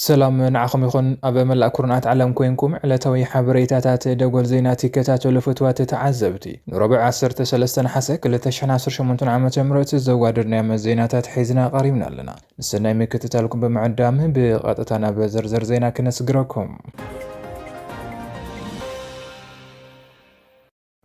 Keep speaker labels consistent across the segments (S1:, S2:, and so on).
S1: ሰላም ንዓኹም ይኹን ኣብ መላእ ኩርናዓት ዓለም ኮንኩም ዕለታዊ ሓበሬታታት ደጎል ዜና ትከታተሉ ፍትዋት ተዓዘብቲ ንረብዕ 13 ነሓሰ 2018 ዓ ም ዘዋደድናዮም ዜናታት ሒዝና ቀሪብና ኣለና ሰናይ ምክትታልኩም ብምዕዳም ብቐጥታ ናብ ዝርዝር ዜና ክነስግረኩም።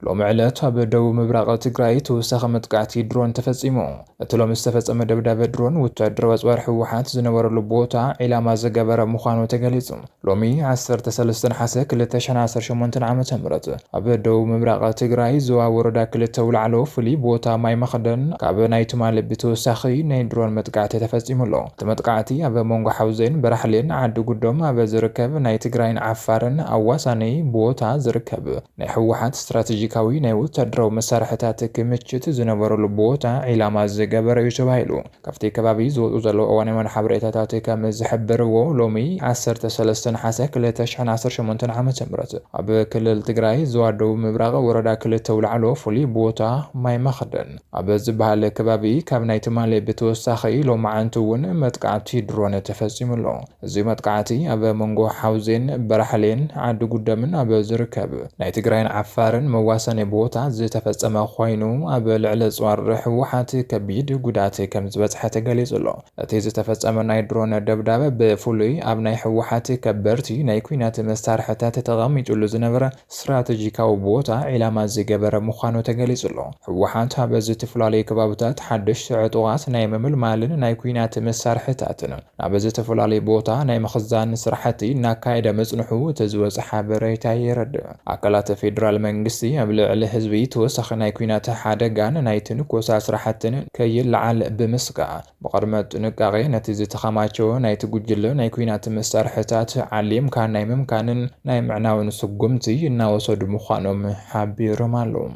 S1: ሎሚ ዕለት ኣብ ደቡብ ምብራቕ ትግራይ ተወሳኺ መጥቃዕቲ ድሮን ተፈጺሙ። እቲ ሎሚ ዝተፈጸመ ደብዳበ ድሮን ወታደራዊ ኣጽዋር ህወሓት ዝነበረሉ ቦታ ዒላማ ዝገበረ ምዃኑ ተገሊጹ። ሎሚ ዓሰርተ ሰለስተ ነሓሰ ክልተ ሽሕን ዓሰርተ ሸሞንተን ዓመተ ምህረት ኣብ ደቡብ ምብራቕ ትግራይ ዞባ ወረዳ ክልተ ኣውላዕሎ ፍሉይ ቦታ ማይ መኽደን ካብ ናይ ትማሊ ብተወሳኺ ናይ ድሮን መጥቃዕቲ ተፈፂሙ ኣሎ። እቲ መጥቃዕቲ ኣብ መንጎ ሓውዜን በራሕሌን ዓዲ ጉዶም ኣብ ዝርከብ ናይ ትግራይን ዓፋርን ኣዋሳኒ ቦታ ዝርከብ ናይ ህወሓት ስትራቴጂካዊ ናይ ወታደራዊ መሳርሕታት ክምችት ዝነበረሉ ቦታ ዒላማ ዝገበረ እዩ ተባሂሉ። ካብቲ ከባቢ ዝወጹ ዘለዉ እዋናዊ መርሓብ ርኤታታት ከም ዝሕብርዎ፣ ሎሚ ዓሰርተ ሰለስተ ነሓሰ ክልተ ሽሕን ዓሰርተ ሸሞንተን ዓመተ ምህረት ኣብ ክልል ትግራይ ዞባ ደቡብ ምብራቕ ወረዳ ክልተ ኣውላዕሎ ፍሉይ ቦታ ማይ መኽደን ኣብ ዝበሃል ከባቢ ካብ ናይ ትማሊ ብተወሳኺ ሎማዕንቲ እውን መጥቃዕቲ ድሮን ተፈጺሙ ኣሎ። እዚ መጥቃዕቲ ኣብ መንጎ ሓውዜን፣ በራሕሌን ዓዲ ጉደምን ኣብ ዝርከብ ናይ ትግራይን ዓፋርን መዋሰኒ ቦታ ዝተፈጸመ ኮይኑ፣ ኣብ ልዕሊ ኣጽዋር ህወሓት ከቢድ ጉድኣት ከምዝበጽሐ ተገሊጹ ኣሎ። እቲ ዝተፈጸመ ናይ ድሮን ደብዳብ ብፍሉይ ኣብ ናይ ህወሓት ከበድቲ ናይ ኲናት መሳርሕታት ተቐሚጡሉ ዝነበረ ስትራተጂካዊ ቦታ ዒላማ ዝገበረ ምዃኑ ተገሊፁ'ሎ። ህወሓት ኣብ ዝተፈላለዩ ከባብታት ሓደሽቲ ዕጡቓት ናይ ምምልማልን ናይ ኲናት መሳርሕታትን ናብ ዝተፈላለዩ ቦታ ናይ ምኽዛንን ስራሕቲ እናካየደ ምፅንሑ እቲ ዝወፀ ሓበሬታ የረድእ። ኣካላት ፌዴራል መንግስቲ ኣብ ልዕሊ ህዝቢ ተወሳኺ ናይ ኲናት ሓደጋን ናይ ትንኮሳ ስራሕትን ከይለዓል ብምስጋእ፣ ብቕድመ ጥንቃቄ ነቲ ዝተኸማቸወ ናይቲ ጉጅለ ናይ ኲናት መሳርሕታት ዓሊምካ ናይ ምምካንን ናይ ምዕናውን ስጉምቲ እናወሰዱ ምዃኖም ሓቢሮም ኣለው።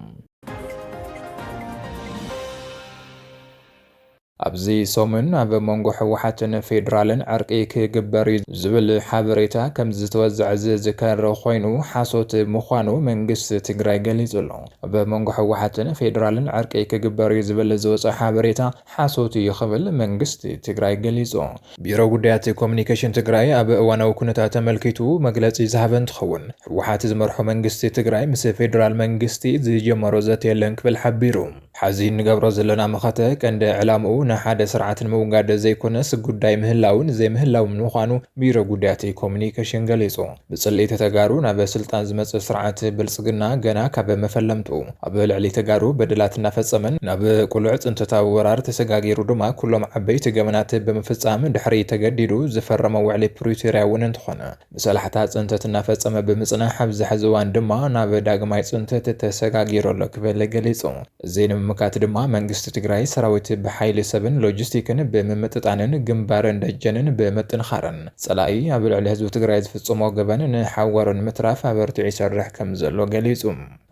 S1: ኣብዚ ሰሙን ኣብ መንጎ ህወሓትን ፌዴራልን ዕርቂ ክግበር እዩ ዝብል ሓበሬታ ከምዝተወዘዐ ዝዝከር ኮይኑ ሓሶት ምዃኑ መንግስቲ ትግራይ ገሊጹ ኣሎ። ኣብ መንጎ ህወሓትን ፌዴራልን ዕርቂ ክግበር እዩ ዝብል ዝወፀ ሓበሬታ ሓሶት እዩ ክብል መንግስቲ ትግራይ ገሊፁ። ቢሮ ጉዳያት ኮሙኒኬሽን ትግራይ ኣብ እዋናዊ ኩነታት ኣመልኪቱ መግለፂ ዝሃበ እንትኸውን፣ ህወሓት ዝመርሖ መንግስቲ ትግራይ ምስ ፌዴራል መንግስቲ ዝጀመሮ ዘተ የለን ክብል ሓቢሩ። ሐዚ እንገብሮ ዘለና መኸተ ቀንዲ ዕላምኡ ንሓደ ስርዓት ንምውጋድ ዘይኮነስ ጉዳይ ምህላውን ዘይምህላውን ምዃኑ ቢሮ ጉዳያት ኮሙኒኬሽን ገሊፁ። ብፅልኢት ተጋሩ ናብ ስልጣን ዝመፅእ ስርዓት ብልፅግና ገና ካብ መፈለምትኡ ኣብ ልዕሊ ተጋሩ በደላት እናፈፀመን ናብ ቁሉዕ ፅንተታዊ ወራር ተሰጋጊሩ ድማ ኩሎም ዓበይቲ ገበናት ብምፍፃም ድሕሪ ተገዲዱ ዝፈረሞ ውዕሊ ፕሪቶርያ እውን እንተኾነ ብሰላሕታ ፅንተት እናፈፀመ ብምፅናሕ ኣብዚ ሐዚ እዋን ድማ ናብ ዳግማይ ፅንተት ተሰጋጊሩ ኣሎ ክብል ገሊፁ። እዚ ንምምካት ድማ መንግስቲ ትግራይ ሰራዊት ብሓይሊ ሰብን ሎጂስቲክን ብምምጥጣንን ግንባርን ደጀንን ብምጥንኻርን ፀላኢ ኣብ ልዕሊ ህዝቢ ትግራይ ዝፍፅሞ ገበን ንሓዋሩ ንምትራፍ ኣበርቲዑ ይሰርሕ ከምዘሎ ገሊፁ።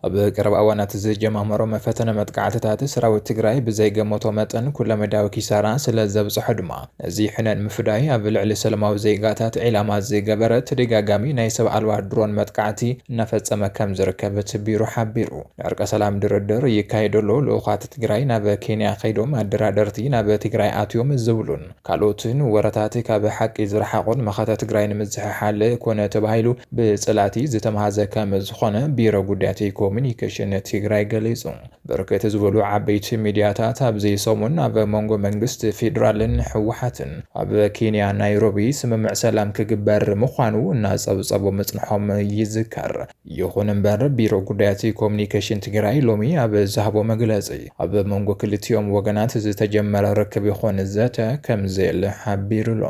S1: ኣብ ቀረባ እዋናት ዝጀማመሮም ፈተነ መጥቃዕትታት ሰራዊት ትግራይ ብዘይገመቶ መጠን ኩለመዳያዊ ኪሳራ ስለዘብፀሖ ድማ ነዚ ሕነ ንምፍዳይ ኣብ ልዕሊ ሰለማዊ ዜጋታት ዒላማ ዝገበረ ተደጋጋሚ ናይ ሰብ ኣልባ ድሮን መጥቃዕቲ እናፈፀመ ከምዝርከብ እቲ ቢሮ ሓቢሩ። ዕርቀ ሰላም ድርድር ይካየድ ኣሎ፣ ልኡኻት ትግራይ ናብ ኬንያ ከይዶም፣ ኣደራደርቲ ናብ ትግራይ ኣትዮም ዝብሉን ካልኦትን ወረታት ካብ ሓቂ ዝረሓቑን መኸተ ትግራይ ንምዝሕሓል ኮነ ተባሂሉ ብፀላእቲ ዝተምሃዘ ከም ዝኾነ ቢሮ ጉዳያት ኮሙዩኒኬሽን ትግራይ ገሊፁ። ብርክት ዝበሉ ዓበይቲ ሚድያታት ኣብዚ ሰሙን ኣብ መንጎ መንግስቲ ፌዴራልን ህወሓትን ኣብ ኬንያ ናይሮቢ ስምምዕ ሰላም ክግበር ምዃኑ እናፀብፀቡ ምፅንሖም ይዝከር። ይኹን እምበር ቢሮ ጉዳያት ኮሙኒኬሽን ትግራይ ሎሚ ኣብ ዝሃቦ መግለፂ ኣብ መንጎ ክልቲኦም ወገናት ዝተጀመረ ርክብ ይኹን ዘተ ከምዘየለ ሓቢሩ'ሎ።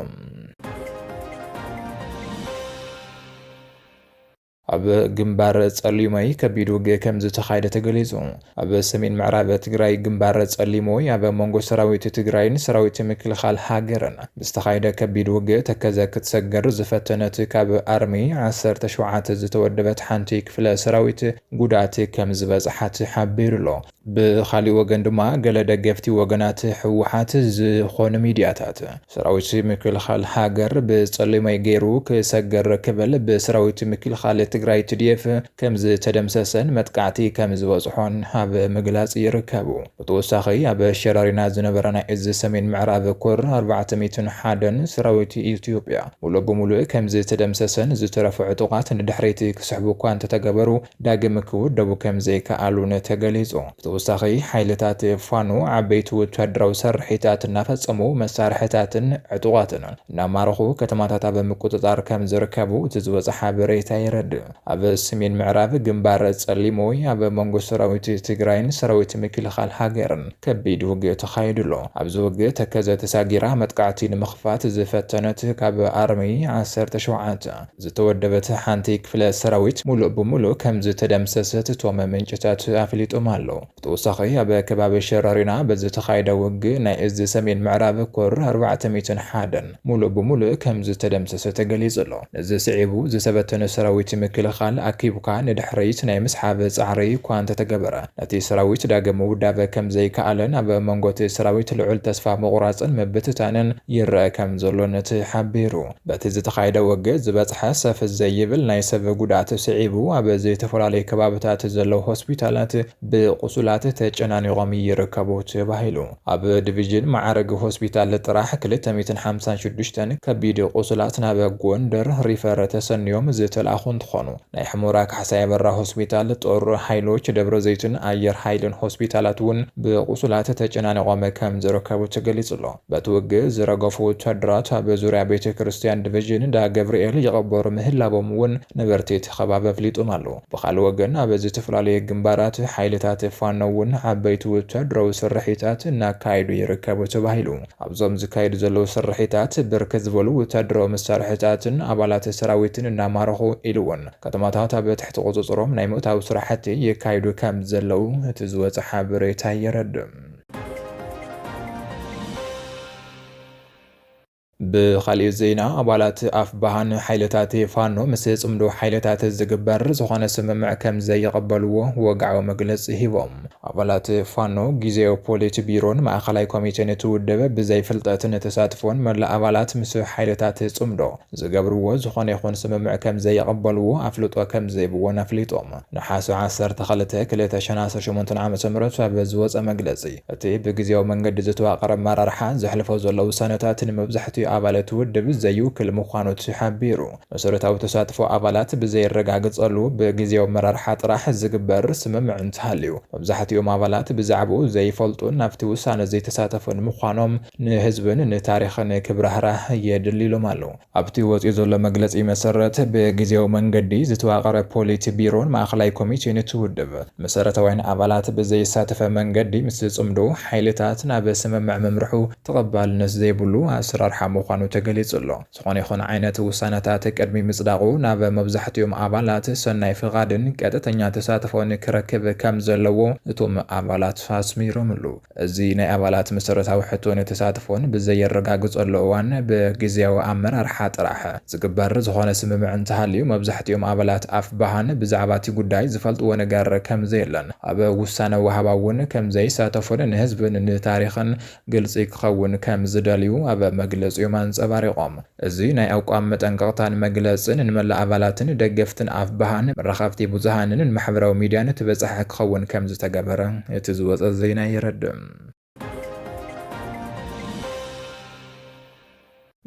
S1: ኣብ ግንባር ፀሊሞይ ከቢድ ውግእ ከምዝተኻየደ ተገሊፁ። ኣብ ሰሜን ምዕራብ ትግራይ ግንባር ፀሊሞይ ኣብ መንጎ ሰራዊት ትግራይን ሰራዊት ምክልኻል ሃገርን ብዝተኻየደ ከቢድ ውግእ ተከዘ ክትሰግር ዝፈተነት ካብ ኣርሚ ዓሰርተ ሸውዓተ ዝተወደበት ሓንቲ ክፍለ ሰራዊት ጉድኣት ከምዝበፅሓ ተሓቢሩ ኣሎ። ብኻሊእ ወገን ድማ ገለ ደገፍቲ ወገናት ህወሓት ዝኾኑ ሚድያታት ሰራዊት ምክልኻል ሃገር ብፀሊሞይ ገይሩ ክሰግር ክብል ብሰራዊት ምክልኻል ትግራይ፣ TDF፣ ከምዝተደምሰሰን መጥቃዕቲ ከምዝበፅሖን ኣብ ምግላፅ ይርከቡ። ብተወሳኺ ኣብ ሸራሪና ዝነበረ ናይ እዝ ሰሜን ምዕራብ ኮር ኣርባዕተ ሚእትን ሓደን ሰራዊት ኢትዮጵያ ሙሉእ ብሙሉእ ከምዝተደምሰሰን ዝተረፉ ዕጡቓት ንድሕሪት ክስሕቡ እኳ እንተተገበሩ ዳግም ክውደቡ ከምዘይከኣሉን ተገሊፁ። ብተወሳኺ ሓይልታት ፋኖ ዓበይቲ ወታደራዊ ስርሒታት እናፈፀሙ መሳርሕታትን ዕጡቓትን እናማረኹ ከተማታት ኣብ ምቁፅፃር ከምዝርከቡ እቲ ዝወፀ ሓበሬታ የረድእ። ኣብ ስሜን ምዕራብ ግንባር ጸሊሞ ኣብ መንጎ ሰራዊት ትግራይን ሰራዊት ምክልኻል ሃገርን ከቢድ ውግእ ተኻይዱ ኣሎ። ኣብዚ ውግእ ተከዘ ተሳጊራ መጥቃዕቲ ንምኽፋት ዝፈተነት ካብ ኣርሚ ዓሰርተ ሸውዓተ ዝተወደበት ሓንቲ ክፍለ ሰራዊት ሙሉእ ብሙሉእ ከምዝተደምሰሰት እቶም ምንጭታት ኣፍሊጦም ኣለው። ብተወሳኺ ኣብ ከባቢ ሸረሪና ብዝተኻየደ ውግእ ናይ እዝ ሰሜን ምዕራብ ኮር ኣርባዕተ ሚእትን ሓደን ሙሉእ ብሙሉእ ከምዝተደምሰሰ ተገሊፁ'ሎ። ነዚ ስዒቡ ዝተበተነ ሰራዊት ምክልኻል ኣኪብካ ንድሕሪት ናይ ምስሓብ ፃዕሪ እኳ እንተተገበረ ነቲ ሰራዊት ዳግም ምውዳብ ከምዘይከኣለን ኣብ መንጎ'ቲ ሰራዊት ልዑል ተስፋ ምቑራፅን ምብትታንን ይረኣ ከምዘሎን ተሓቢሩ። በቲ ዝተኻየደ ውግእ ዝበፅሐ ሰፍ ዘይብል ናይ ሰብ ጉድኣት ስዒቡ ኣብ ዝተፈላለዩ ከባብታት ዘለዉ ሆስፒታላት ብቑሱላት ተጨናኒቖም ይርከቡ ተባሂሉ። ኣብ ዲቪዥን መዓርግ ሆስፒታል ጥራሕ ክልተ ሚእትን ሓምሳን ሽዱሽተን ከቢድ ቑሱላት ናብ ጎንደር ሪፈር ተሰንዮም ዝተልኣኹ እንትኾኑ ናይ ሑመራ ካሕሳይ ኣበራ ሆስፒታል፣ ጦር ሃይሎች ደብረዘይትን ኣየር ሃይልን ሆስፒታላት እውን ብቑሱላት ተጨናኒቖም ከምዝርከቡ ተገሊፁ'ሎ። በቲ ውግእ ዝረገፉ ወታደራት ኣብ ዙርያ ቤተ ክርስትያን ድቭዥን እንዳ ገብርኤል ይቐበሩ ምህላዎም እውን ነበርቲ እቲ ከባቢ ኣፍሊጦም ኣለዉ። ብኻልእ ወገን ኣብ ዝተፈላለየ ግንባራት ሓይልታት ፋኖ እውን ዓበይቲ ወታደራዊ ስርሒታት እናካየዱ ይርከቡ ተባሂሉ። ኣብዞም ዝካየዱ ዘለዉ ስርሒታት ብርክት ዝበሉ ወታደራዊ መሳርሕታትን ኣባላት ሰራዊትን እናማረኹ ኢሉ እውን ከተማታት ኣብ ትሕቲ ቁፅፅሮም ናይ ምእታው ስራሕቲ የካይዱ ከምዘለዉ እቲ ዝወፀ ሓበሬታ የረድእ። ብኻሊእ ዜና ኣባላት ኣፍባሃ ንሓይልታት ፋኖ ምስ ፅምዶ ሓይልታት ዝግበር ዝኾነ ስምምዕ ከምዘይቕበልዎ ወግዓዊ መግለፂ ሂቦም። ኣባላት ፋኖ ጊዚያዊ ፖሊት ቢሮን ማእኸላይ ኮሚቴን እቲ ውድብ ብዘይፍልጠትን ተሳትፎን መላእ ኣባላት ምስ ሓይልታት ፅምዶ ዝገብርዎ ዝኾነ ይኹን ስምምዕ ከም ዘይቕበሉ ኣፍልጦ ከም ዝህብዎን ኣፍሊጦም። ነሓሰ ዓሰርተ ክልተ፣ ክልተ ሽሕን ዓሰርተ ሸሞንተን ዓመተ ምህረት ኣብ ዝወጸ መግለጺ፣ እቲ ብግዝያዊ መንገዲ ዝተዋቐረ ኣመራርሓ ዘሕልፎ ዘሎ ውሳነታት ንመብዛሕቲኡ ኣባል እቲ ውድብ ዘይውክል ምዃኑ ተሓቢሩ። መሰረታዊ ተሳትፎ ኣባላት ብዘይረጋገጸሉ ብግዝያዊ ኣመራርሓ ጥራሕ ዝግበር ስምምዕ እንተሃልዩ፣ መብዛሕቲኦም ኣባላት ብዛዕባኡ ዘይፈልጡን ኣብቲ ውሳነ ዘይተሳተፉን ምዃኖም ንህዝብን ንታሪኽን ክብራህራህ የድሊ ኢሎም ኣለው። ኣብቲ ወፂኡ ዘሎ መግለፂ መሰረት ብግዝያዊ መንገዲ ዝተዋቐረ ፖሊት ቢሮን ማእኸላይ ኮሚቴን እቲ ውድብ መሰረታውያን ኣባላት ብዘየሳተፈ መንገዲ ምስ ዝፅምዶ ሓይልታት ናብ ስምምዕ ምምርሑ ተቐባልነት ዘይብሉ ኣሰራርሓ ምዃኑ ተገሊፁ ኣሎ። ዝኾነ ይኹን ዓይነት ውሳነታት ቅድሚ ምፅዳቑ ናብ መብዛሕቲኦም ኣባላት ሰናይ ፍቓድን ቀጥተኛ ተሳትፎን ክረክብ ከምዘለዎ እቶም ኣባላት ኣስሚሮምሉ። እዚ ናይ ኣባላት መሰረታዊ ሕቶን ተሳትፎን ብዘየረጋግጸሉ እዋን ብግዝያዊ ኣመራርሓ ጥራሕ ዝግበር ዝኾነ ስምምዕ እንተሃልዩ መብዛሕቲኦም ኣባላት ኣፍባሃን ብዛዕባ እቲ ጉዳይ ዝፈልጥዎ ነገር ከምዘየለን ኣብ ውሳነ ወሃባ እውን ከምዘይሳተፉን ንህዝብን ንታሪኽን ግልጺ ክኸውን ከምዝደልዩ ኣብ መግለጺኦም ኣንጸባሪቖም። እዚ ናይ ኣቋም መጠንቀቕታን መግለጽን ንመላእ ኣባላትን ደገፍትን ኣፍብሃን መራኸብቲ ብዙሃንን ንማሕበራዊ ሚድያን እትበጽሐ ክኸውን ከምዝተገበረ እቲ ዝወጸ ዜና የረድእ።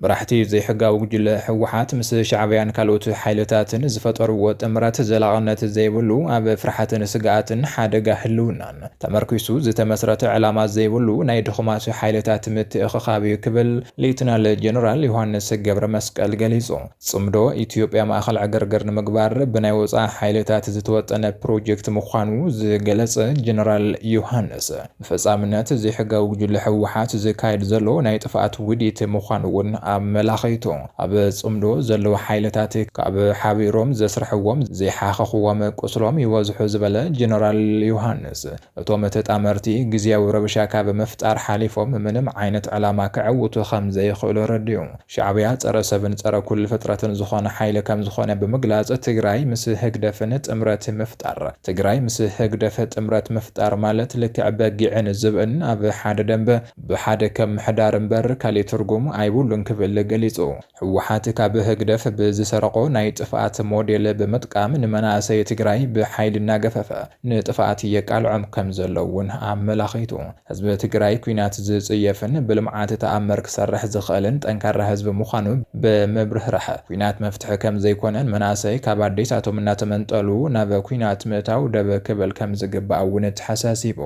S1: መራሕቲ ዘይሕጋዊ ጉጅለ ህወሓት ምስ ሻዕብያን ካልኦት ሓይልታትን ዝፈጠርዎ ጥምረት ዘላቕነት ዘይብሉ፣ ኣብ ፍርሓትን ስግኣትን ሓደጋ ህልውናን፣ ተመርኲሱ ዝተመስረተ ዕላማ ዘይብሉ ናይ ድኹማት ሓይልታት ምትእኽኻብ እዩ ክብል ሌተናል ጀነራል ዮሃንስ ገብረመስቀል ገሊጹ። ጽምዶ ኢትዮጵያ ማእኸል ዕግርግር ንምግባር ብናይ ወጻኢ ሓይልታት ዝተወጠነ ፕሮጀክት ምዃኑ ዝገለጸ ጀነራል ዮሃንስ፣ ብፈጻምነት ዘይሕጋዊ ጉጅለ ህወሓት ዝካየድ ዘሎ ናይ ጥፍኣት ውዲት ምዃኑ እውን ኣመላኺቱ። ኣብ ጽምዶ ዘለዉ ሓይልታት ካብ ሓቢሮም ዘስርሕዎም ዘይሓኸኽዎም ቁስሎም ይበዝሑ ዝበለ ጀነራል ዮሃንስ፣ እቶም ተጣመርቲ ግዝያዊ ረብሻ ካብ ምፍጣር ሓሊፎም ምንም ዓይነት ዕላማ ከዕውቱ ከምዘይኽእሉ ኣረዲኡ። ሻዕብያ ጸረ ሰብን ጸረ ኩሉ ፍጥረትን ዝኾነ ሓይሊ ከምዝኾነ ብምግላጽ ትግራይ ምስ ህግደፍን ጥምረት ምፍጣር ትግራይ ምስ ህግደፍ ጥምረት ምፍጣር ማለት ልክዕ በጊዕን ዝብእን ኣብ ሓደ ደንበ ብሓደ ከም ምሕዳር እምበር ካሊእ ትርጉም ኣይብሉን ክብል ገሊፁ። ህወሓት ካብ ህግደፍ ብዝሰረቖ ናይ ጥፍኣት ሞዴል ብምጥቃም ንመናእሰይ ትግራይ ብሓይሊ እናገፈፈ ንጥፍኣት የቃልዖም ከም ዘሎ እውን ኣመላኺቱ። ህዝቢ ትግራይ ኲናት ዝፅየፍን ብልምዓት ተኣምር ክሰርሕ ዝኽእልን ጠንካራ ህዝቢ ምዃኑ ብምብርህራሕ ኲናት መፍትሒ ከም ዘይኮነ ንመናእሰይ ካብ ኣዴታቶም እናተመንጠሉ ናብ ኲናት ምእታው ደብ ክብል ከም ዝግባእ እውን ተሓሳሲቡ።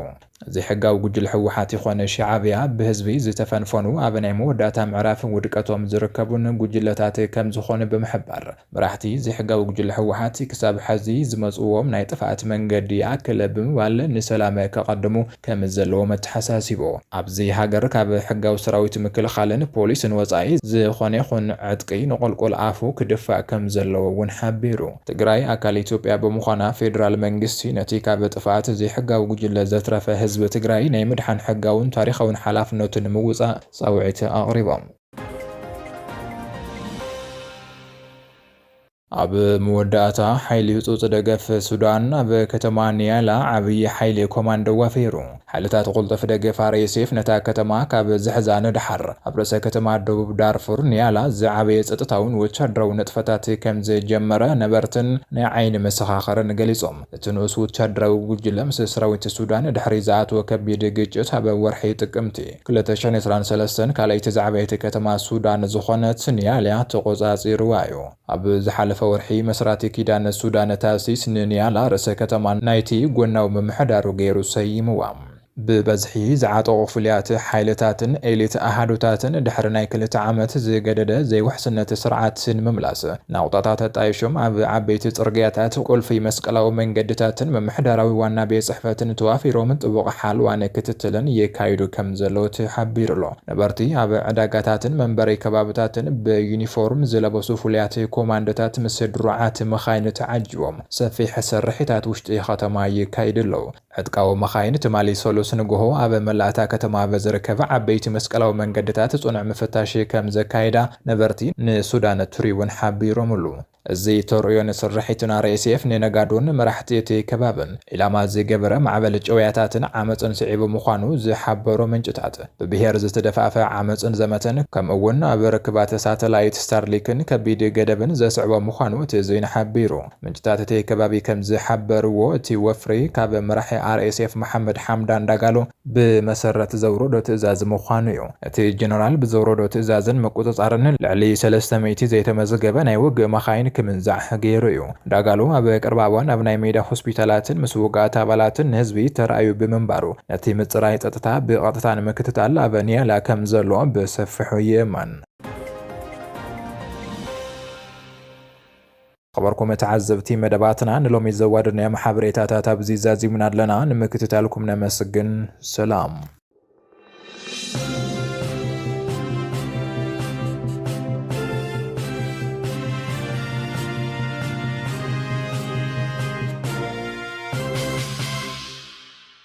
S1: ዘይሕጋዊ ጉጅለ ህወሓት ይኾን ሻዓብያ ብህዝቢ ዝተፈንፈኑ ኣብ ናይ መወዳእታ ምዕራፍ ውድቀቶም ዝርከቡን ጉጅለታት ከምዝኾኑ ብምሕባር መራሕቲ ዘይሕጋዊ ጉጅለ ህወሓት ክሳብ ሐዚ ዝመፅዎም ናይ ጥፍኣት መንገዲ ይኣክል ብምባል ንሰላም ከቐድሙ ከምዘለዎም ኣተሓሳሲቡ። ኣብዚ ሃገር ካብ ሕጋዊ ሰራዊት ምክልኻልን ፖሊስን ወፃኢ ዝኾነ ይኹን ዕጥቂ ንቑልቁል ኣፉ ክድፋእ ከምዘለዎ እውን ሓቢሩ። ትግራይ ኣካል ኢትዮጵያ ብምዃና ፌዴራል መንግስቲ ነቲ ካብ ጥፍኣት ዘይሕጋዊ ጉጅለ ዘትረፈ ህዝቢ ትግራይ ናይ ምድሓን ሕጋውን ታሪኻውን ሓላፍነቱ ንምውፃእ ፃውዒት ኣቕሪቦም። ኣብ መወዳእታ ሓይሊ ህፁፅ ደገፍ ሱዳን ኣብ ከተማ ኒያላ ዓብዪ ሓይሊ ኮማንዶ ዋፊሩ። ሓይልታት ቁልጡፍ ደገፍ RSF ነታ ከተማ ካብ ዝሕዛ ንደሓር፣ ኣብ ርእሰ ከተማ ደቡብ ዳርፉር ኒያላ ዝዓበየ ጸጥታውን ወተሃደራዊ ንጥፈታት ከም ዝጀመረ ነበርትን ናይ ዓይኒ መሰኻኽርን ገሊጾም። እቲ ንኡስ ወተሃደራዊ ጉጅለ ምስ ሰራዊት ሱዳን ድሕሪ ዝኣተዎ ከቢድ ግጭት ኣብ ወርሒ ጥቅምቲ ክልተ ሽሕን ዕስራን ሰለስተን ካልኣይቲ ዝዓበየት ከተማ ሱዳን ዝኾነት ኒያላ ተቖጻጺሩዋ እዩ። ኣብ ዝሓለፈ ወርሒ፣ መስራቲ ኪዳነ ሱዳነ ታሲስ ንኒያላ ርእሰ ከተማ ናይቲ ጎናዊ ምምሕዳሩ ገይሩ ሰይምዋ። ብበዝሒ ዝዓጠቑ ፍሉያት ሓይልታትን ኤሊት ኣሃዱታትን ድሕሪ ናይ ክልተ ዓመት ዝገደደ ዘይውሕስነት ስርዓት ንምምላስ ናቑጣታት ኣጣይሾም ኣብ ዓበይቲ ጽርግያታት፣ ቁልፊ መስቀላዊ መንገድታትን ምምሕዳራዊ ዋና ቤት ጽሕፈትን ተዋፊሮም ጥቡቕ ሓልዋን ክትትልን የካይዱ ከምዘለዉ ተሓቢሩ'ሎ። ነበርቲ ኣብ ዕዳጋታትን መንበሪ ከባብታትን ብዩኒፎርም ዝለበሱ ፍሉያት ኮማንዶታት ምስ ድሩዓት መኻይን ተዓጂቦም ሰፊሕ ስርሒታት ውሽጢ ከተማ ይካይዱ ኣለው። ዕጥቃዊ መኻይን ትማሊ ሰሉስ ንጉሆ ኣብ መላእ እታ ከተማ ኣብ ዝርከብ ዓበይቲ መስቀላዊ መንገድታት ፅኑዕ ምፍታሽ ከምዘካየዳ ነበርቲ ንሱዳን ትሪቡን ሓቢሮምሉ። እዚ ተርእዮ ንስርሒትና ሬስኤፍ ንነጋዶን መራሕቲ እቲ ከባብን ዒላማ ዝገበረ ማዕበል ጭውያታትን ዓመጽን ስዒቡ ምዃኑ ዝሓበሩ ምንጭታት፣ ብብሄር ዝተደፋፍኣ ዓመጽን ዘመተን ከምኡ እውን ኣብ ርክባት ሳተላይት ስታርሊክን ከቢድ ገደብን ዘስዕቦ ምዃኑ እቲ ዜና ሓቢሩ። ምንጭታት እቲ ከባቢ ከምዝሓበርዎ እቲ ወፍሪ ካብ መራሒ RSF መሓመድ ሓምዳን ዳጋሎ፣ ብመሰረት ዘውረዶ ትእዛዝ ምዃኑ እዩ። እቲ ጀነራል ብዘውረዶ ትእዛዝን ምቁጽጻርን ልዕሊ ሰለስተ ሚእቲ ዘይተመዝገበ ናይ ውግእ መኻይን ክምንዛዕ ገይሩ እዩ። ዳጋሎ ኣብ ቀረባ እዋን ኣብ ናይ ሜዳ ሆስፒታላትን ምስ ውጉኣት ኣባላትን ንህዝቢ ተራእዩ ብምንባሩ ነቲ ምጽራይ ጸጥታ ብቐጥታ ንምክትታል ኣብ ኒያላ ከም ዘሎ ብሰፊሑ ይእመን። ኽበርኩም ተዓዘብቲ መደባትና ንሎሚ ዘዋደድናዮም ሓበሬታታት ኣብዚ ዛዚምና ኣለና ንምክትታልኩም ነመስግን ሰላም።